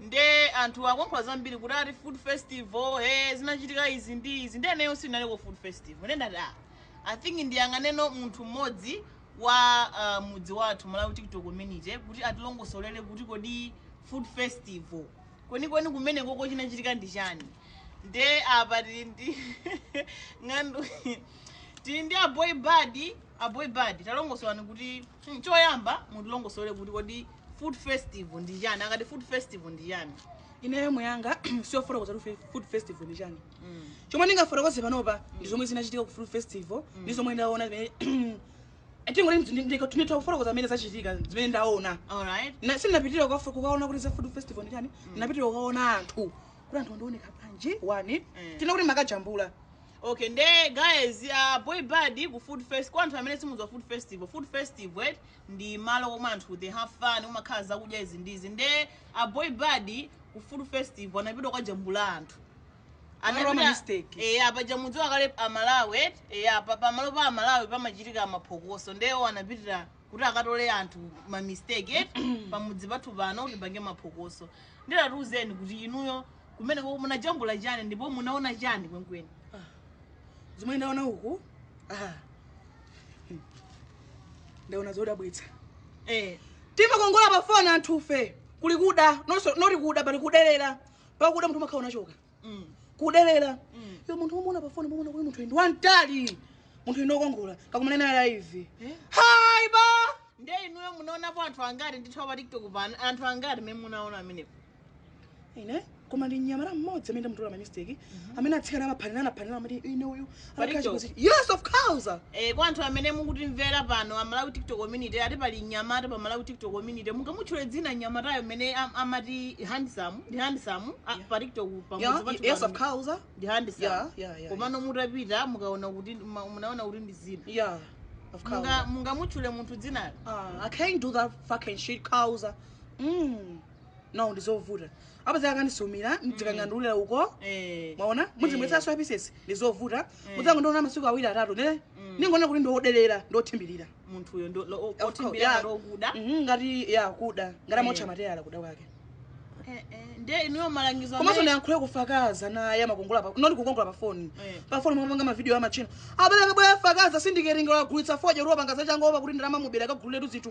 nde anthu akulankhula zambiri kuti ati food festival he zinachitika izi ndi izi nde ineyo sindinaliko food festival nde ndati ah, i think ndiyang'aneno munthu mmodzi wa uh, mudzi wathu malawi tiktok community kuti atilongosolere kuti kodi food festival kwenikweni kumenekoko chinachitika ndi chani nde apa tili ndi nganganu tili ndi aboy bad aboy bad talongosolani kuti hmm, choyamba mutilongosole kuti kodi food festival ndi chani akati food festival ndi chani ineyo mbali yanga siyofotokoza kuti fe- food festival ndi chani chomwe ndingafotokoze panopa ndi zomwe zinachitika ku food festival ndi zomwe ndaona zimene ndingoti nditha kufotokoza zimene zachitika zimene ndaona alright Na- sindinapitire kukafu- kukaona kuti za food festival ndi chani ndinapitire kukaona anthu kuti anthu amaoneka bwanji wani Mm. tinene kuti mumakajambula okay nde guys uh, boy bad ku food fest kwa anthu amene simudziwa food festival food festival right? ndi malo komwe anthu they have fun kumakhala zakudya izi ndi izi nde a boy bad ku food festival anapita kukajambula anthu anapita ma mistake. eya paja mudziwa kale a malawi eti eya pa- pamalo pa a malawi pamachitika maphokoso nde iwo anapitira kuti akatole anthu ma mistake eti pamudzi pathu pano kuti apange maphokoso nde tatiuzani kuti inuyo kumeneko munajambula chani ndipo munaona chani kwenkweni zomwe ndaona uku ah, ndaona zodabwitsa eh. timakongola pa foni anthufe kuli kuda nonso noti kuda pali kuderera pakuda munthu umakhala unachoka mm. kuderera mm. iyo munthu umuona pa foni muona kuti munthu ndi wamtali munthu ndi wokongola kakumane naye live eh? hai ba nde inuyo munaonapo anthu angati ndi apa pa tiktok pano anthu angati mmene munaona amenepo ine koma ndi mnyamata mmodzi amene ndamutola ma mistake mhm. amene atsikana amaphanirana amaphanirana amati ine uyu yes of course eh kwa anthu amene mukutimvera pano a Malawi TikTok community ati pali mnyamata pa Malawi TikTok community mungamutchule dzina mnyamatayo amene amati handsome ndi handsome pa TikTok pamudzi yes of course ndi handsome komano mutapita mukaona kuti munaona kuti ndi zina yeah of course mungamutchule munthu dzinalo ah i can't do that fucking shit causa mm no ndizovuta apeza akandisumira ndizikangandulira uko Eh. mwaona Eh. mudzimwetsanso apisesi ndizovuta mudzangondiona masiku awiri atatu ne ndingonena kuti ndi oderera ndi othimbirira munthuyo ndo- lo- o- course, othimbirira yeah. ngati okuda Mhm, ngati kuda ngati amawotcha Eh. mateyala kuda kwake Eh, eh, ndiye inuyo malangizo komanso amene- ndiyankhule kufakaza naye amakongola pa noti kukongola pa foni Eh. pa foni mwapanga mavidiyo ama china abale bwera afakaza sindikeringira agulitsa foja kuti wapanga zachani kuti ndalama mubera akagulira tu zinthu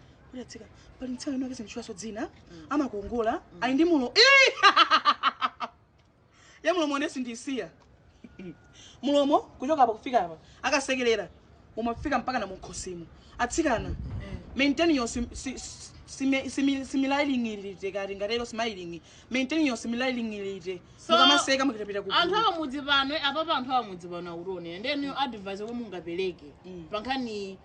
kuti atsika pali mtsikana amene akesa ndimutchulaso dzina amakongola ali ndi mlo Ii! ya mlomo onesi ndisiya mlomo kuchoka apa kufika apa akasekelera umafika mpaka na mukhosimu atsikana maintain your sim- si- si- simi- simi- similailingiririte kati ngatero smiling maintain your similailingiririte So, mukamaseka mukapita anthu kugulu awamudzi pano apapa anthu awamudzi pano akutionera nde ndi advice omwe mungapereke Mm. pankhani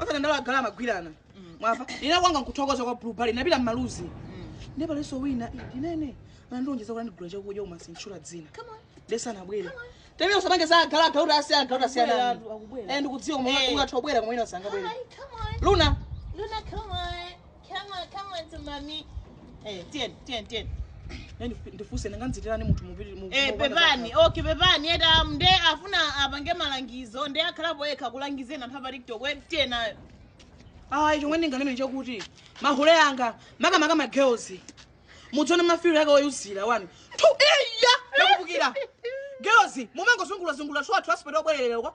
osadandaula za agala amagwirana mwamva ine kwanga nkuthokoza kwa Blue Bar ndapita mmaluzi ndiye palinso wina eh, ndinene anandilonjeza kuti andigula chakudya koma sinditchula dzina nde sanabwere tene usapange za agala agauti asi agauti asiyana Akubwera, anthu, akubwera. ndikudziwa Eh. koma ungatha kubwera koma ina sangabwere Come on, luna Luna, come on. Come on, come on to mommy. Eh, tiyeni, tiyeni, tiyeni. Nani ndifuse ndangokuitanirani munthu mupiri mu. Eh, pepani. Okay, pepani. Yeta nde afuna apange malangizo. Nde akhalapo yekha kulangiza anthu apa TikTok. We tiyeni nayo. Ah, chomwe ndinganene nchakuti mahule anga maka maka ma girls. Mudziona mafiro yake oyuzira wani. Tu iya ndakubukira. Girls, mumangozungulira zungulira kusowa transport yobwererera uko.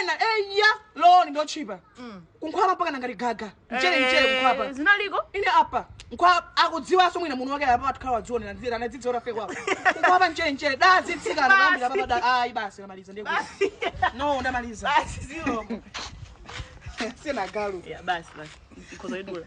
ena eya roll-on ndiotchipa kunkhwapa mpaka ngati gaga mchere mchere kunkhwapa Eh, zinaliko ine apa nkhwapa akudziwanso mwina munthu wake apa atikhala wadzionera nzira anadzidziwa tafe kwako kunkhwapa mchere mchere nde atsikana kuyambira papa da ayi basi ndamaliza ndiye kuti no ndamaliza basi ziloko sina galu ya basi basi ikhoza idula